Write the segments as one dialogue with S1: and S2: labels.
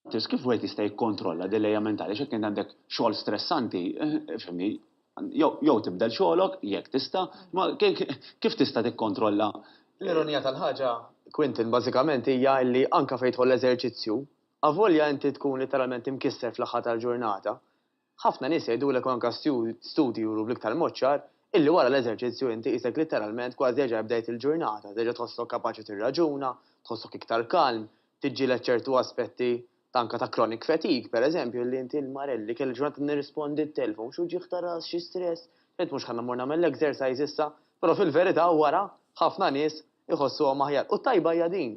S1: Tgħid kif wieħed jista' jikkontrolla dil-lejja mentali għax jekk int għandek xogħol stressanti, fhimni, jew tibdel xogħolok, jekk tista', imma kif tista' tikkontrolla? L-ironija
S2: tal-ħaġa, Quentin, bażikament hija li anke fejn tidħol l-eżerċizzju, avolja inti tkun litteralment imkisser fl-aħħar tal-ġurnata, Ħafna nies jgħidulek u anke l-studji juru bl-iktar mod ċar illi wara l-eżerċizzju inti qisek litteralment kważi reġa' bdejt il-ġurnata, terġa' tħossok kapaċi tirraġuna, tħossok iktar kalm, tiġġieled ċertu aspetti ta' anke ta' chronic fatigue, pereżempju, illi inti l-marel li kelli ġurnata nirrispondi t-telefon, xi wġigħ ta' ras, xi stress, tgħid mhux ħa mmur nagħmel l-exercise issa, però fil-verità wara ħafna nies iħossuhom aħjar. U t-tajba hija din,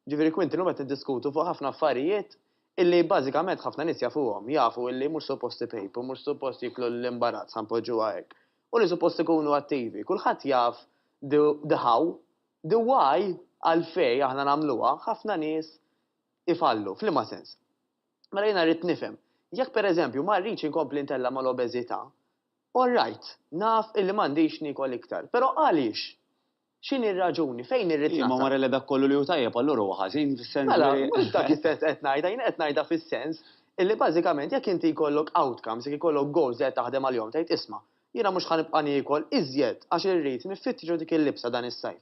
S2: jiġifieri Quintin illum qed niddiskutu fuq ħafna affarijiet Illi bażikament ħafna nies jafuhom, jafu illi mhux suppost ipejpu, mhux suppost jieklu l-imbarazz, ħa npoġġuha hekk, u li suppost ikunu attivi. Kulħadd jaf the the how, the why għalfejn aħna nagħmluha, ħafna nies ifallu. F'liema sens? Mela jiena rrid nifhem, jekk per eżempju ma rridx inkompli ntella' mal-obeżità, all right, naf illi m'għandix niekol iktar, però għaliex? X'inhi r-raġuni? Fejn irrid nasal? Imma wara li dak kollu li hu
S1: tajjeb allura huwa ħażin fis-sens li. Mela, mhux dak is-sens
S2: qed ngħidha, jien qed ngħidha fis-sens illi bażikament jekk inti jkollok outcomes, jekk ikollok goals li qed taħdem għalihom tgħid isma', jiena mhux ħa nibqa' niekol iżjed għax irrid niffittxu dik il-libsa dan is-sajf,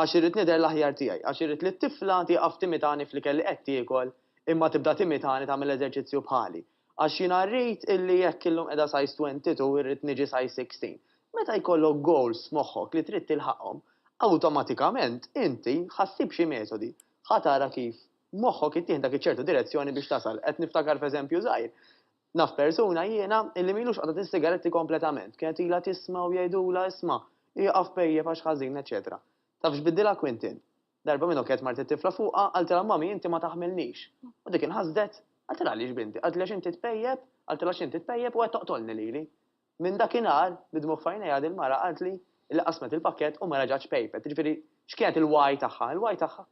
S2: għax irrid nidher l-aħjar tiegħi, għax irrid li t-tifla tieqaf timitani fl-ikel li qed tiekol imma tibda timitani tagħmel eżerċizzju bħali. Għax jiena rrid illi jekk illum qiegħda size 22 irrid niġi size 16. Meta jkollok goals f'moħħok li trid tilħaqhom, awtomatikament inti ħa ssib xi metodi, ħa tara kif moħħok ittieħdak iċ-ċertu direzzjoni biex tasal. Qed niftakar f'eżempju żgħir. Naf persuna jiena illi m'ilux qatgħet is-sigaretti kompletament. Kienet ilha tisma' u jgħidulha isma', ieqaf pejjep għax ħażin eċċetera. Taf x'biddilha Quintin? Darba minnu kienet mart it-tifla fuqha, qaltilha Mommy inti ma taħmilnix. U dik inħasdet, qaltilha għaliex binti, qaltli għax inti tpejjep, qaltilha għax inti tpejjep u qed toqtolni lili. Minn dakinhar, bid-dmugħ f'għajnejha din mara qaltli li qasmet il-pakkett u ma reġgħetx pejpet, jiġifieri x'kienet il-wagħi tagħha? Il-wagħi tagħha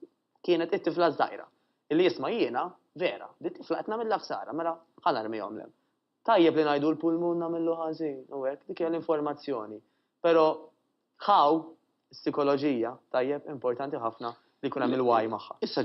S2: kienet it-tifla ż-żgħira. Illi isma' jiena, Vera, dit-tifla qed nagħmilha ħsara, mela ħa narmihom l-hemm. Tajjeb li ngħidu l-pulmun nagħmillu ħażin u hekk, dik hija l-informazzjoni. Però How, is-sikoloġija, tajjeb, importanti ħafna li jkun hemm il-why magħha. Issa